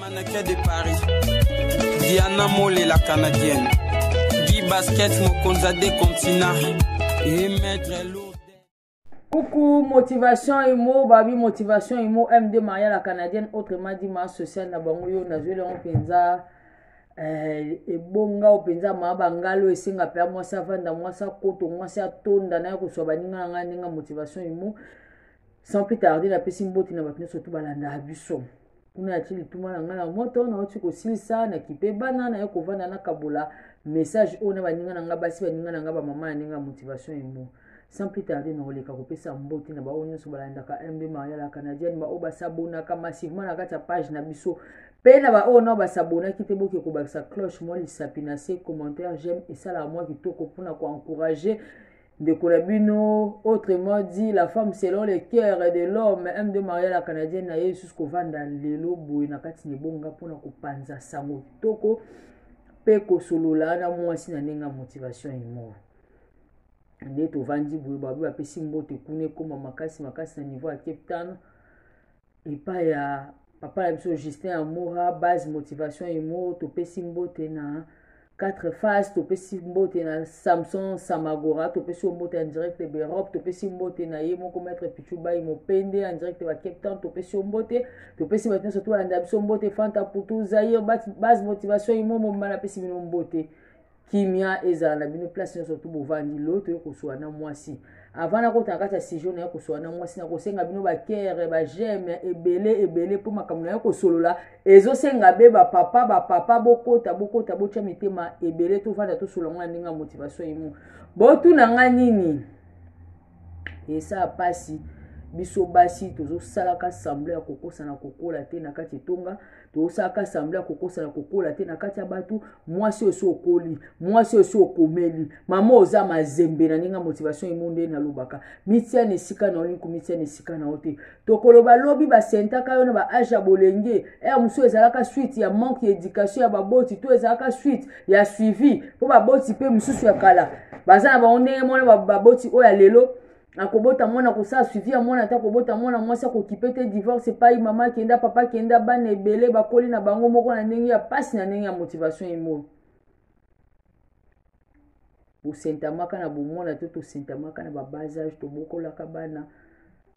Manakia de Paris, Diana Mole la Canadienne, Guy Basket Mokonza des continents et Maître Lourdes. Coucou, motivation imo, babi motivation imo, MD Maria la Canadienne, autrement dit ma sociale na bango yo na zwe lango penza eh, ebonga o penza ma bangalo esenga pe mwasi avanda mwasi akoto mwasi atonda na ye koswa baninga na ngai ndenge motivation imo sans plus tarder napesi mbote na bato nyonso tu balandaka biso kuna natie lituma na ngai na moto nauti kosilisa nakipe bana naye kovanda nakabola message oyo na baninga na ngai basi baninga na ngai bamama ya ndenge ya motivation emo sans plus tarder nakoleka kopesa mbote na baoyo nyonso balandaka mb maria la canadienne baoyo basabonaka massivement na kati ya page na biso mpe na baoyo nao basabonaki te boke kobakisa cloche mwa lisapi na se commentaire j'aime esalaka mwa kitoko mpona koencourage ndeko na bino autrement dit la femme selon le cœur de l'homme m de maria la canadienne na ye lisusu kovanda lelo boye na kati na ebonga mpona kopanza sango kitoko mpe kosolola na mwasi na ndenge ya motivation imor nde tovandi boye babi bapesi mbote kuna ekoma makasi makasi na niveau ya cape town epai ya papa na biso justin amora base motivation imo topesi mbote na quatre phase topesi mbote na samson samagora topesi yo mbote en direct ba europe topesi mbote na ye moko maître pichubai mopende en direct ba cape town topesi yo mbote topesi bato nyonso tolanda biso mbote fanta putu zaire base motivation imo momba napesi bino mbote kimia ezala na bino place nyonso tu bovandi lo toye kosola na mwasi avant nakota na kati ya sijo na ye kosola na mwasi nakosenga bino bakere bajeme ebele ebele mpo makambo na ye kosolola ezosenga be bapapa bapapa bokota bokota botya mitema ebele tovanda tosolola ngo na ndenge ya motivation emo botuna ngai nini esaa mpasi biso basi tozosalaka sembla ya kokosana kokola te na kati etonga tozosalaka sembla ya kokosana kokola te na kati ya bato mwasi oyo si okoli mwasi oyo si okomeli mama oza mazembe na ndenge ya motivation emo nde nalobaka mitia na esika na yo linku mitia na esika na yo te tokoloba lobi basentaka yo na ba age ya bolenge ere eh, mosusu ezalaka suite ya manque ya éducation ya baboti to ezalaka suite ya suivi mpo baboti mpe mosusu ya kala baza na bango ndenge mwana baboti oyo ya lelo akobota mwana kosala suivi ya mwana ata kobota mwana mwasi akokipe te divorce epai mama akenda papa akenda bana ebele bakoli na bango moko na ndenge ya mpasi na ndenge ya motivation emoyo tosentamaka na bomwana to tosentamaka na babasage tobokolaka bana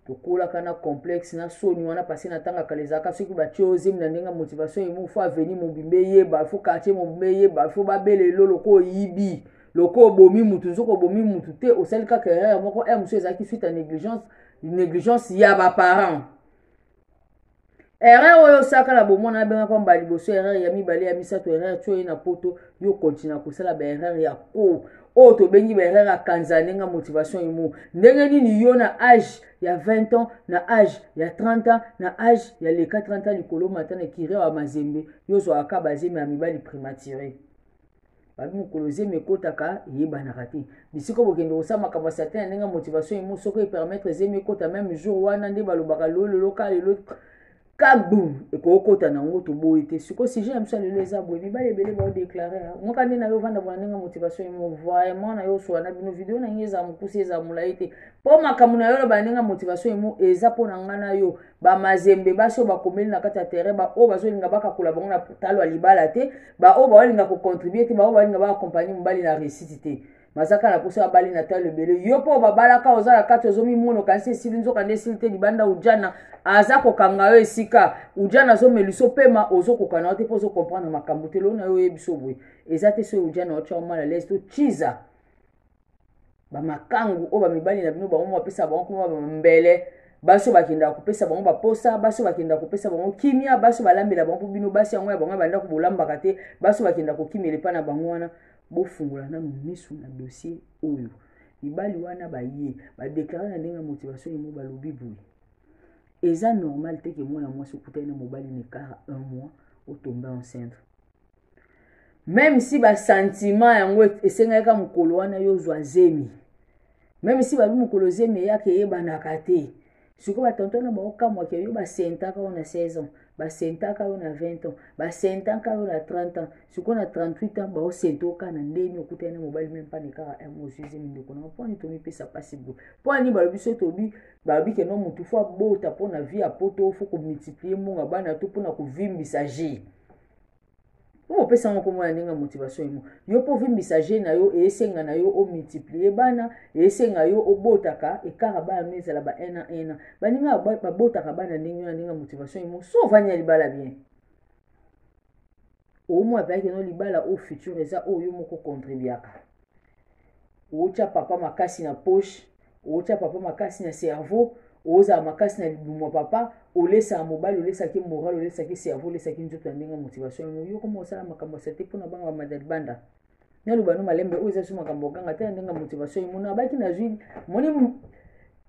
tokolaka na complexe na soni wana pase na ntanga kala ezalaka soki batye ozemi na ndenge ya motivation emo fo aveni mobimba eyeba fo quartier mobimba eyeba fo babele elo loka oyibi loka obomi motu nzoka obomi motu te osali kaka erreur moko r mosusu ezalaki suite ya négligence négligence ya baparent erreur oyo osalaka na bomwana abengaka mbala liboso erreur ya mibale ya misato erreur tio ye na poto yo kontina kosala baerreur ya ko oyo tobengi baerreur ya kanza ndenge motivation emo ndenge nini yo na age ya 20 ans na age ya 30 ans na age ya leka 30 ans likolo mata na kire ya mazembe yo ozwaka bazemi ya mibali primature babi mokolo zemi ekotaka eyebanaka te bisika bokende kosala makambo ya satan ya ndenge ya motivation emo soko epermettre zemi ekota meme jour wana nde balobaka lololo ka lelo kabum ekokota na yango toboyi te siko sujet ya biso ya lelo eza boye mibali ebele baodeklare moka nde na yo ovanda bona ndenge motivation emo vraiment na yo osola na bino video na ngai eza mokuse eza molai te mpo makambo na yo oloba ndenge motivation emo eza mpo na ngai na yo bamazembe basi oyo bakomeli na kati ya terrain baoyo bazolinga bakakola bango na talo ya libala te baoyo baolinga kocontribue te baoyo balinga baakompagne mobali na réussite te mazaka na poso abali na talo ebele yo mpo babalaka oza na kati ozomimona okanisi esili nzoka nde esili te libanda ujana aza kokanga yo esika ujana azomelisa opema ozokokana yo te mpo ozokomprendre makambo te loo na yo oyebi so boye eza te soki ujana otya omala lese to chiza bamakangu oyo bamibali na bino bango moko bapesa bango kuma bambele basi oyo bakendaka kopesa bango baposa basi oyo bakendaka kopesa bango kimia basi oyo balambela bango bino basi yango ya bango ya bandako bolambaka te basi oyo bakendaka kokimela epai na bango wana bofungola nano miso na dossier oyo mibali wana baye badeklare na ndenge ya motivation yango balobi boye eza normal te ke mwana mwasi okutani na mobali na ekara un mois otombe enceinte meme si basantima yango esengaki ka mokolo wana yo ozwa zemi meme si babi mokolo zemi eyaka eyebanaka te sikoyo batonto na bango kamwaka yo basentaka yo na 16 ans basentaka yo na 20 ans basentaka yo na 30 ans sikoyo na 38 ans baosenta oka na ndeni okutani na mobali meme mpani kaka emosuse mindeko nango mponi tomipesa mpasi boye mponi balobi so tobi balobi keno motu fo abota mpo na vie ya poto fo komultiplie mbongo ya bana to mpo na kovimbisa jeu mpo opesa yango komona ndenge motivation emo yo mpo ovimbisa je na yo esenga na yo omultiplie bana esenga yo obotaka ekara bana no ezala ba un an un an baninga babotaka bana ndenge na ndenge motivation emo so ovandi ya libala bien omona mpenza keno libala oyo futur eza oyo yo moko contribuaka otya papa makasi na poche otya papa makasi na cerveau ozala makasi na libumu ya papa olesaka mobali olesaki moral olesaki cerveau olesaki nzoto ya ndenge motivation yango yo koma osala makambo ya sate mpona banga bamadali banda naloba no malembe oyo eza so makambo oganga te na ndenge motivation emona abaki nazwi moni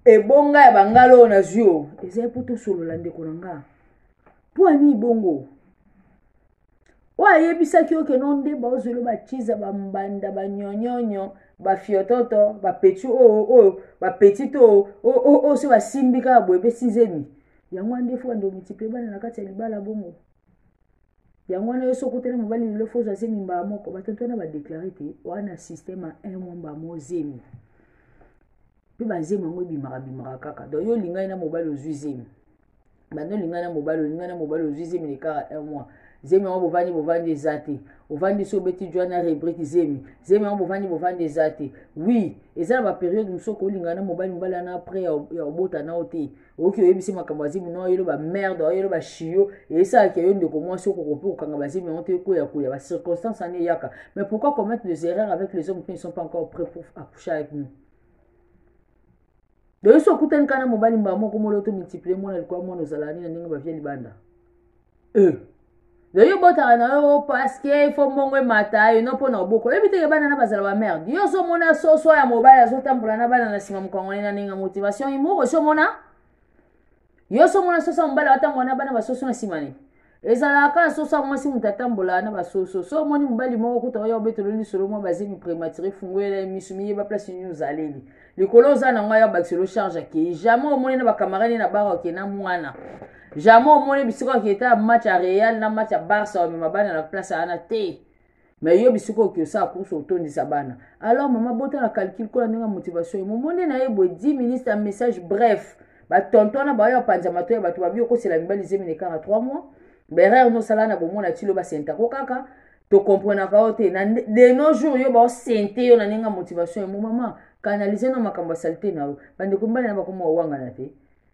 ebonga ya bangala oyo nazwi o ezali mpo tosolola ndeko na nga mpo ani bongo oyo ayebisaki yo keno nde baozwelo bachiza bambanda banyonyonyo bafiototo bapeti oyo oyo bapetit oyo oyo so basimbi kaka boye mpe sizemi yango wana nde fo bando multiplie bana na kati ya libala bongo yango wana yo so okutana mobali lelo fo ozwa zemi mbala moko batonto wana badeklare te wana systeme ya un mwa mbala mo zemi mpe bazemi yango ebimaka bimaka kaka donc yo olingai na mobali ozwi zemi banda olinga na mobali olinga na mobali ozwi zemi na ekara un mois zemi yango bovandi bovandi eza te ovandi so obeti jwa na rebrike zemi zemi yango bovandi bovandi eza te wi eza na baperiode mosusu okolinga na mobali mobali wana apres ya obota nao te oyoki oyebisi makambo ya zemi nao yelo bamerde oyelo bashiyo esalaki yo ndeko mwasi okokopi kokanga bazemi yango te ekoya koya bacirconstance wana eyaka mais pourquoi commettre des erreurs avec les hommes qui ne sont pas encore près pour accoucher avec nous lelo so okutani kana mobali mbala moko molo to multiplie mwana likwa mwana ozalaka nini na ndenge bavia libanda e lelo obotaka na yo paske fo mbongo emata eno mpo na oboko oyebi teke bana na bazala bamerde yo ozomona soso ya mobali azotambola na bana na nsima mokangoli na ndenge ya motivation imoko ozomona yo so omona soso ya mobali atambola na bana basoso na nsima ne ezalaka kaka soso ya mwasi moto atambolaka na basoso so omoni mobali moko kuta oya obetolo lisolo mwa bazemi prématuré fungolela ye miso miyeba place nini ozaleli likolo oza na ngai abakiselo charge akei jamais omoni na bacamarade ye na bara oke na mwana jamais omoni bisika oketa match ya real na match ya barça omema bana na place wana te mais yo bisika oki osala course otondisa bana alors mama bota na calcul kola ndenge motivation ye momoni na ye boye 10 minutes ya message bref batonto wana baoyo bapanza mato ya bato babi okosela mibali zemi na ekanga 3 mois berere nosala na bomona tilo basentako kaka tokomprenaka yo te na de no jour yo baosente yo na ndenge ya motivation ya momama kanalize na makambo ya salite na yo bandeko mibali na bakoma owangana te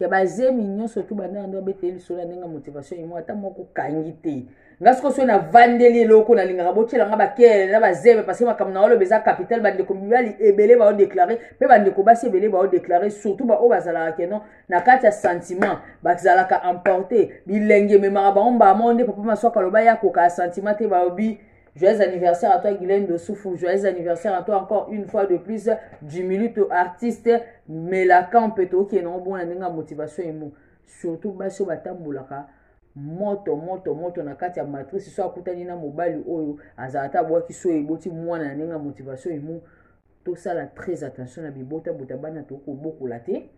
ya bazemi nyonso tu banda yango abeteli lisolo ya ndenge ya motivation yemo ata moko kangi te nga soko soki navandeli eloko nalingaka botyela nga bakele na bazeme parce que makambo na oloba eza capital bandeko mibali ebele baodeklare mpe bandeko basi ebele baodeklare surtout baoyo bazalaka keno na kati ya sentiment bazalaka emporte bilenge ememaka bango mbala moko nde papa maswaka aloba ye akoka ya sentiment te baobi Joyeux anniversaire à toi Guylaine de Soufou. Joyeux anniversaire à toi encore une fois de plus. Du minute artiste Melacan Peto qui est non bon la motivation et mou. Surtout basso batamboulaka. moto moto moto na kati ya matrice so akutani na mobali oyo azala ata abwaki so eboti mwana na ndenge ya motivation emo tosala très attention na bibota bota bana tokobokola te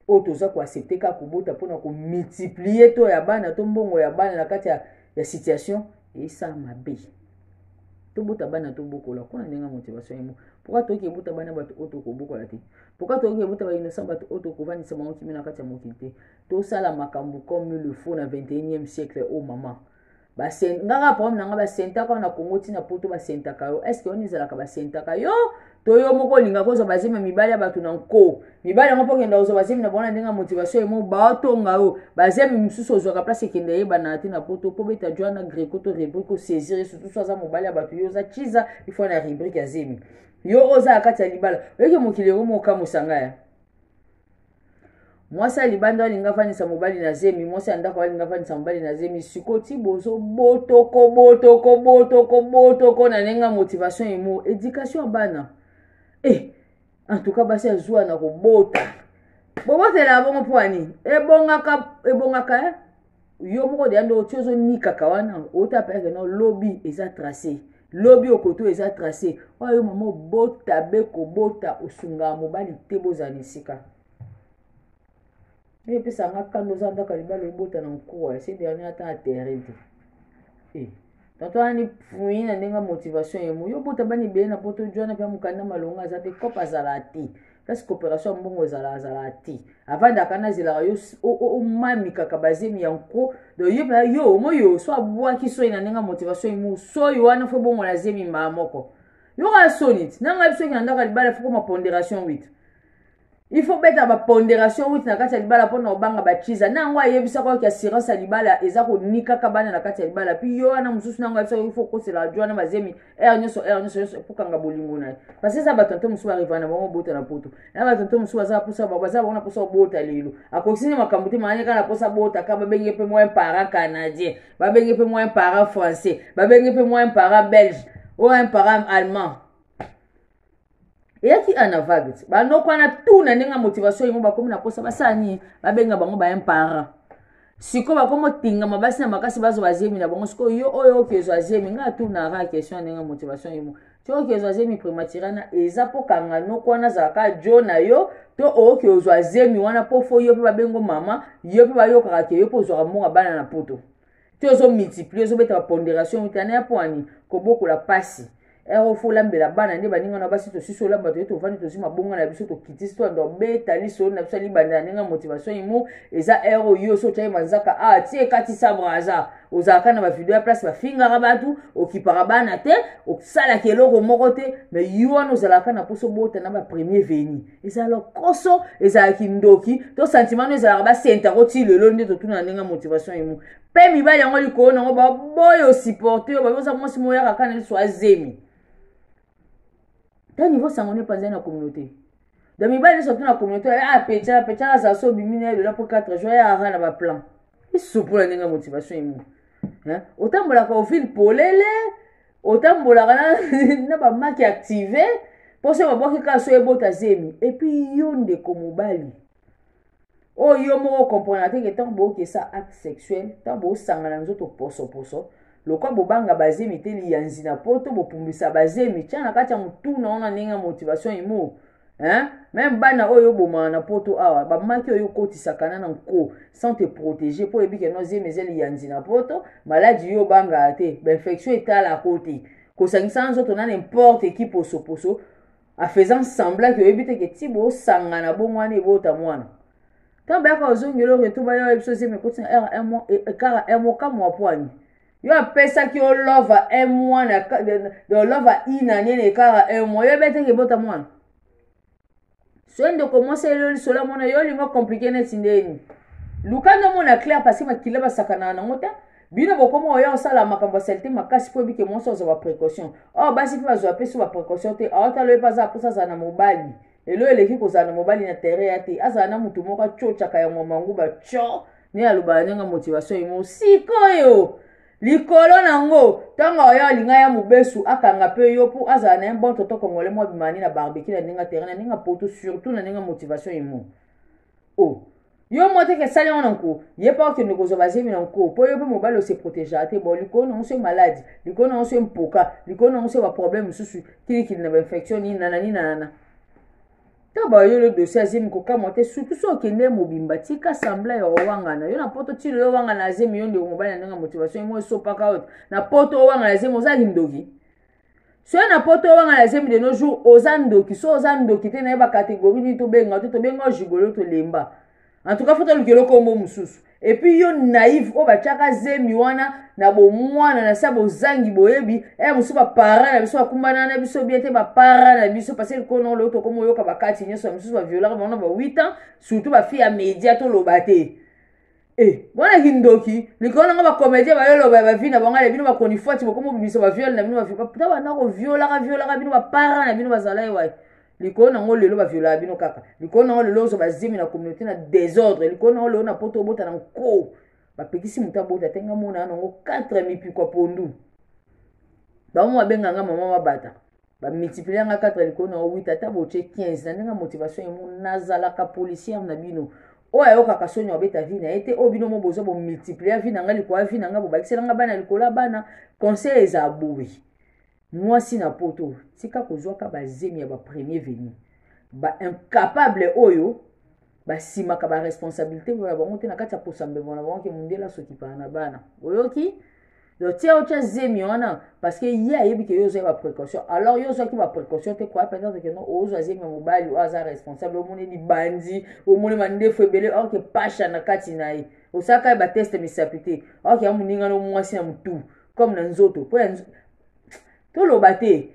oyo toza koaccepte kaka kobota mpona komultiplie to ya bana to mbongo ya bana na kati ya, ya situation esala mabe tobota bana tobokola kuna ndenge ya motivation yango pourkui toyoki ebota bana bato oyo tokobokola te pourkui toyoki ebota bainosan bato oyo tokofandisa bango kimi na kati ya mokili te tosala makambo comme le faux na 21e siècle oyo oh mama basengaka problème na nga basentaka na congo ntina poto basentaka yo estce wana ezalaka basentaka yo to yo moko olingaka ozwa bazemi ya mibali ya bato na nko mibali yango mpo okenda kozwa bazemi na bango na ndenge ya motivation emo baotonga yo bazemi mosusu ozwaka place ekenda eyebanaka te na poto mpo beta joana greco to rubrike osaisir ye sutusu aza mobali ya bato yo oza chiza ifo na rubrike ya zemi yo oza na kati ya libala oyoki mokili yango mokamosanga ya mwasi ya libanda alinga afandisa mobali na zemi mwasi ya ndako alinga afandisa mobali na zemi siko ti bozo botoko botoko botoko botoko na ndenge motivation emo éducation ya bana e eh, en tout cas basi azuwa na kobota bobotela bongo mpo ya nini ebongaka ebongaka eh? yo moko deya nde oti ozonikaka wana otapelaka no lobi eza trace lobi okoto eza trace oyo yo mama obota be kobota osungaka mobali te bozala na esika oyo epesaka nga kanda oza ndaka libala obota na nkuwa ese dernier ata aterre te eh. tonto wana ni pui na ndenge motivation ye moyo bota bana ebele na poto jwana mpe mokanda malonga aza te cope azalaka te place coopération ya mbongo ezala azalaka te avandaka na azelaka yo omami kaka bazemi ya nko donc ye mpenza yo omoi yo so abwaki soi na ndenge motivation ye moyo soi wana fo bongo na zemi mbaa moko yoka soni ti nanga biso yeke na ndaka libala fokoma ponderation wite il faut beta ba ponderation wuti na kati ya libala mpona obanga bachiza na yango ayebisaka oki assurance ya libala eza konikaka bana na kati ya libala puis yo wana mosusu na yango ayebisaka il faut okosela radio wana mazemi heure nyonso heure nyonso nyonso epokanga bolingo na ye parce eza bato nto mosusu barivana na bango bota na poto na bato nto mosusu baza posa bango baza bango na posa obota lelo akokisi nde makambo te maani kaka na posa bota ka babenge mpe moyen parent canadien babenge mpe moyen parent français babenge mpe moyen parent belge oyo un parent allemand eyaki ana vague ti banoko wana tu na ndenge ya motivation yango bakomi na posa basala nini babenga bango ba imparent sikoyo bakomi otingama basi na makasi bazwa bazemi na bango sikoyo yo oyo okezwa zemi ngai atunaka question ya ndenge ya motivation yemo ti okezwa zemi primatire wana eza mpo kanga noko wana azalaka jo na yo to oyoki ozwa zemi wana mpo fo yo mpe babengo mama yo mpe bayokaka ke yo mpe ozwaka mbongo bana na poto ti ozo multiplier ozobeta baponderation utana ya pwani kobokola pasi ero fo olambela bana nde baninga na basi tosisi olamba toye tovandi tozwi mabonga na biso tokitisi to ando beta lisolo na biso alibanda na ndenge motivation imo eza ero yo so otyaki manzaka a ah, ti ekatisa braza ozalaka na bavideo ya place bafingaka bato okipaka bana te osalaka eloko moko te mai yo wana ozalaka na mposo bota na bapremier veni eza lokoso ezala kindoki to sentiment no ezalaka basenta yango ti lelo nde totuna na ndenge ya motivation emo mpe mibali yango likolo na yango baboyo supporte yo babi oza mwasi moyaka kaka na liso azemi ta niveau sango ne panzai na communauté donc mibali nyonso tuna communauté a pecana pecana azala so obimi na ye lola mpo 4 jour ya ara na baplan isupu na ndenge ya motivation emo otambolaka ovile polele otambolaka na, na bamaki active mpo soki babwaki kaka so ebota zemi epuis yo ndeko mobali oyo yo moko okomprana te ke ntango bookesa acte sexuel ntango boosangana nzoto posoposo lokwa bobanga bazemi te liyanzi na poto bopumbisa bazemi tya na kati ya motuna ona ndenge ya motivation imo hein meme bana oyo obomaka na poto awa bamaki oyo okotisaka na na nko sans te protéger mpo oyebi ke no zemi eza liyanzi na poto maladi yo obangaka te bainfection etalako te kosangisa na nzoto na n'importe eki posoposo afaisant semblant ke oyebi te ke ti bosangana bongo wana ebota mwana ntango bayaka ozongela oyo to bayoka biso zemi ekoti na r un mois ekara un mois kamwa pwani yo apesaki yo lova un mois na do lova une année na ekara un mois yo ebetaki ebota mwana soki ndeko mwasi yo lisolo amona yo olingo komplike neti ndeni luka nde omona claire parce makila basakanaka nango te bino bokoma oya kosala makambo ya salite makasi mpo ebike mwasi azwa baprécaution oyo oh, basi mpe bazwa mpe so baprécaution te aotala oyo mpe aza mposa azala na mobali elo eleki kozala na mobali na terrain ya te azala na moto moko acocaka yango mangu baco nde alobaka ndenge motivation emo sikoyo likolo na yango ntango oyo alinga ya mobesu akanga mpe yo mpo azala na ye bon toto congolais mwa bimani na barbecue na ndenge terrain na ndenge poto surtout na ndenge motivation emo oh. yo mwa teke esali yango na nko ye mpe okende kozwa bazemi na nko mpo yo mpe mobali ose protégea te bon likolo nango se maladi likolo nango se mpoka likolo nango se baproblème mosusu kilikili na bainfection nini nana nini nanana ntango bayolo dosie azemi kokamwa te surtout so okende mobimba tika sembla ya owangana yo na poto ti lelo owangana azemi yo ndeko mobali na ndenge ya motivation yango esopaka oyo na poto owangana azemi oza kindoki soki na poto owanga na zemi de nos jours oza ndoki so oza ndoki te naye bacatégorie nini tobenga to tobenga gigolo tolemba en tout cas fo toluki elokombo mosusu epuis yo naive oyo batiaka zemi wana na bomwana na se ya bozangi boyebi e mosusu bapara na biso bakumbana na biso bien te bapara na biso parce likono leo tokoma oyoka bakati nyonso ya mosusu baviolaka bango na ba 8 ans surtout bafille ya media toloba te Eh, bona kindoki likolo nanga bacomédien bayoloba ya bavi na bango ya bino bakonifwati bokoma bobimisa baviole na bino ta banda koviolaka violaka bino bapara na bino bazala ye waye likolo nango lelo baviolaka bino kaka likolo nango lelo ozwa bazemi na communauté na désordre likolo nango lelo na poto obota na nko bapekisi moto abota te nga mona nango 4 mipikwa pondu bango babenganga mama mabata bamultiplier yanga 4 likolo na 8 ata botie 15 na ndenge motivation emo nazalaka policière na bino oyo ayokaka soni abeta vi na ye te oyo bino mo boza bomultiplier vi na ngai likolo ya vi na ngai bobakisela ngai bana likolo ya bana conseil eza boye mwasi na poto tika kozwaka bazemi ya bapremier venu baincapable oyo basimaka baresponsabilité na bango te na kati ya posa mbembo na bango ke mondele asokipana na bana oyoki donc tia otya zemi wana parce que ye ayebi ke yo ozwaki baprécaution alors yo ozwaki baprécaution te koya peut-être ke non ozwa zemi ya mobali oyo aza responsable omoni libandi omoni mandefu ebele or ke pasha na kati na ye osalaka ye bateste misapi te or ke ya moninga no mwasi na motu comme na nzoto mpo ya toloba te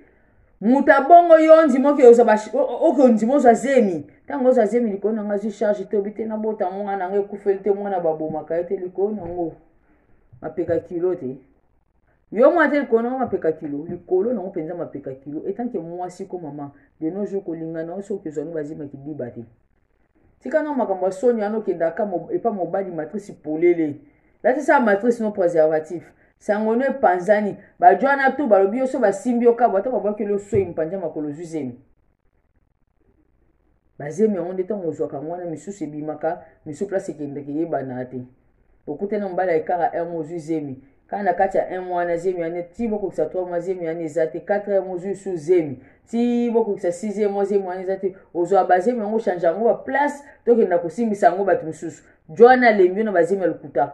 moto abongo yo ondima oke ozwa oke ondima ozwa zemi ntango ozwa zemi likolo na ngai azwi charge tobi te nabota yango ngai na ngai ekufeli te mwana babomaka ye te likolo na yango mapeka kilo te yo mwana te likolo na yango mapeka kilo likolo na yango mpenza mapeka kilo etanke mwasi ko mama de nos jours kolingana yo soki ozwa yango bazimaki biba te tika na makambo ya soni wana okendaka epa mobali matrice polele latisa matrice no préservatif sango no epanzani bajo wana tu balobi yo so basimbi yo kabo ata babwakeli osoi mpanza makolo zwi zemi bazemi yango nde ntango ozwaka yango wana misusu ebimaka misusu place ekendeke yebana te okutani na mobali ya kaka un mois ozwi zemi kaka na kati ya un mois wana zemi wana ti bokokisa trois mois zemi wana eza te quatre mois ozwi su zemi ti bokokisa sixième mois zemi wana eza te ozwa bazemi yango ochange yango baplace tokenda kosimbisa yango bato mosusu jo wana alembi yo na bazemi ya lokuta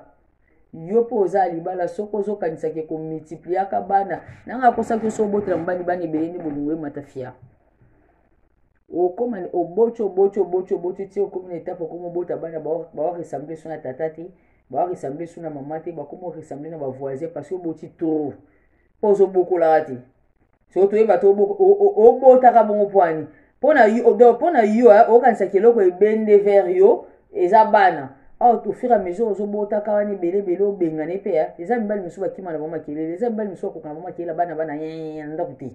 yo mpo oza ya libala soki ozokanisaki komultipliaka bana nanga akosaki yo so obotela mobali bana ebele nde bolingo emata fia okoma oboti oboti oboti oboti ti okomi na etape okomi obota bana baoressemble so na tata te baoressemble so na mama te bakomi oressemble na bavoisin parce oboti trop mpo ozobokolaka te so toyeba te obotaka bongo mpoani mpo na yo donc mpo na yo eh, okanisaki eloko ebende vers yo eza bana awa oh, tofira mesure ozobotaka wana ebele ebele obengana epe eh. eza mibali mosusu bakima na bango makelele eza mibali mosusu bakoka na bango makelele bana bana eh, na ndako te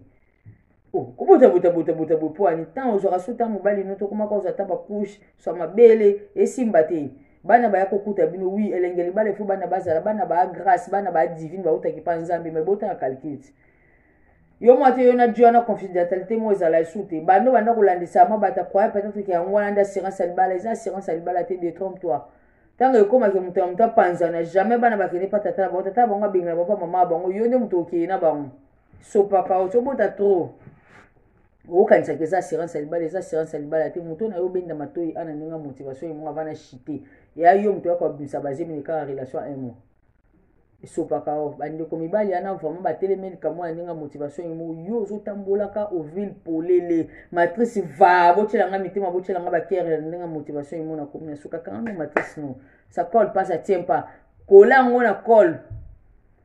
Oh, kobota bota bota bota boye mpo ani ntango ozwaka so ntango mobali no tokomaka ozwa ata bacouche swa mabele esimba te bana baya kokuta bino wi elenge libala ifo bana bazala bana baa grâce bana baa divine bautaki mpa nzambe mai botanga calcule te yo mwa te yo na diana confidentialité moko ezala esu te bando banda kolandisama bata croye peut-être ke yango wana nde assurance ya libala eza assurance ya libala te detrompe toi ntango ekomaki moto ya moto apanzana jamais bana bakende mpa tata na bango tata na bango abengela bango mpa mama ya bango yo nde moto okei na bango so papa otobota trop okokanisaka eza assurance ya libala eza assurance ya libala te moto na yo obenda matoi ana ndenge motivation yango avana chite ya yo moto yako abimisa bazemini kaka relation ya un mois esopaka o bandeko mibali yana vraiment batelemi likambo ya ndenge ya motivation yemo yo ozotambolaka ovile polele matrice va botyela nga mitema botyela nga bakere ya ndenge ya motivation yemo na komi na sukaka nga matrice no sa cole pas sa tien pas kola yango na cole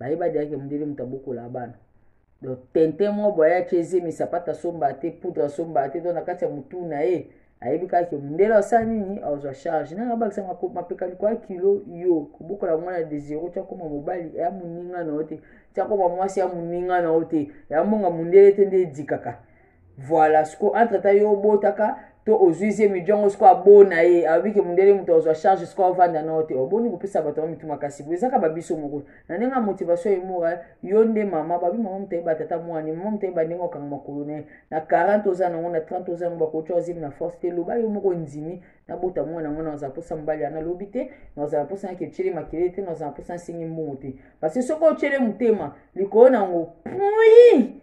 baye badiaki mundele moto abokola bana donc tintin mwa boye ayaki ezemi sapata asomba te poudre asomba te to na kati ya motu na ye ayebi kaka ke mundele asala nini azwa charge nanga bakisa mapeka likoya kilo yo kobokola mwana de zero ti akoma mobali ya moninga na yo te ti akoma mwasi ya moninga na yo te ya mbonga mundele te nde edikaka Voilà, ce qu'on entre temps yo botaka to ozuizie midjongo siko abona ye alobi ke mundele moto azwa charge siko avanda na ote oboni kopesa bato yango mituma kasi boye ezaka babiso moko na ndenge ya motivation emora eh, yo nde mama babi mama motayeba tata mwani mama motayeba ndenge okanga makolo na ye na 40 oza nango na 30 oza nango bakotya ozimi na force te loba yo moko ndimi nabota mwana yango nazala mposa mobali ya nalobi te nazala mposa yake otyele makele te nazala mposa nsengi mbongo te parce soki otyele motema likolo na yango pui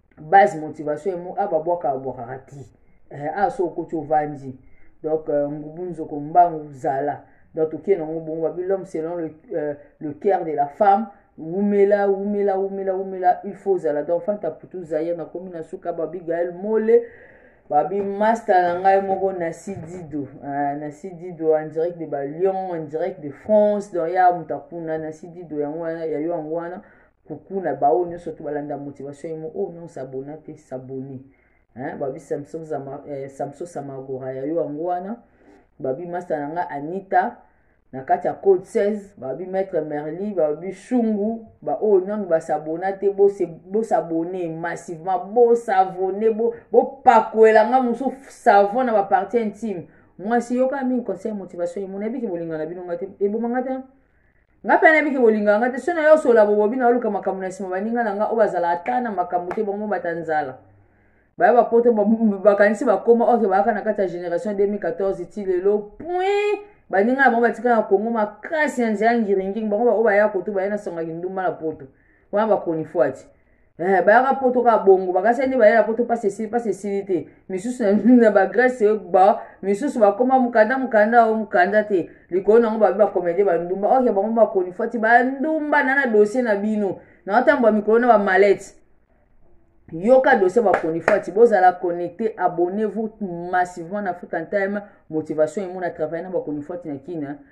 base motivation emo a babwaka babwakaka ti eh, a so okoti ovandi donc euh, ngubu nzoko mbangu zala donc tokie nango bongo babi l'homme selon le, euh, le cœur de la femme wumela wumela wumela wumela il faut ozala donc fanta putu zaire nakomi na suka babi gael mole babi masta na ngai moko na sidido ah, na sidido en direct de balion en direct de france donc ya moto akuna na sidido yango wana ya yo yango wana coucou na baoyo nyonso to balanda motivation yemo oyo oh, non sabona te sabone babi samson eh, samagora ya yo yango wana babi masta na ngai anita na kati ya code 16 babi maître merli babi shungu baoyo oh, nanu basabona te bosabone massivement bosavone bopakwela bo ngai mosusu savon na bapartie intime mwasi yoka mingi conseil motivation yemo nayebiki bolinga na bino ngai te eboma ngai te nga mpe nayebi ke bolingaka nga te so nayo osola bobobi na oluka makambo na nsima baninga na nga oyo bazala ata na makambo te bango bata nzala baya bapoto bakanisi bakoma oke bayaka na kati ya génération 2014 ti lelo pui baninga na bango batika na kongo makasi ya nzela ngiringingi bango baoyo baya koto baya na sangaki ndumba na poto wana bakronifwati Eh, bayaka poto kaka bongo bakasi nde balela poto mpasi esili mpasi esili te misusu na bagrece ba misusu bakoma mokanda mokanda o mokanda te likolo nango babi bakomede bandumba oke bango bakonifwati bandumba na na dosie na bino na otambwa mikolo na bamalete yoka dossier bakonifati bozala connecte abonnez-vous massivement na african time motivation emona travaille na bakonifati na kina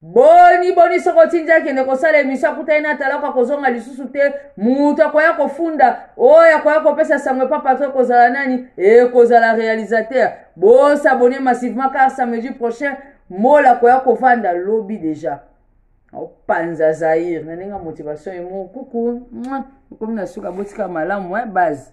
boni boni soki otindi akende kosala emisio akutani na talako akozonga lisusu te moto akoya kofunda oyo akoya kopesa sango epa patro ekozala nani ekozala realisateur bosabone massivement car samedi prochain mola akoya kovanda lobi deja opanza zaire na ndenge ya motivation emo kuku okomi na suka botika malamu e base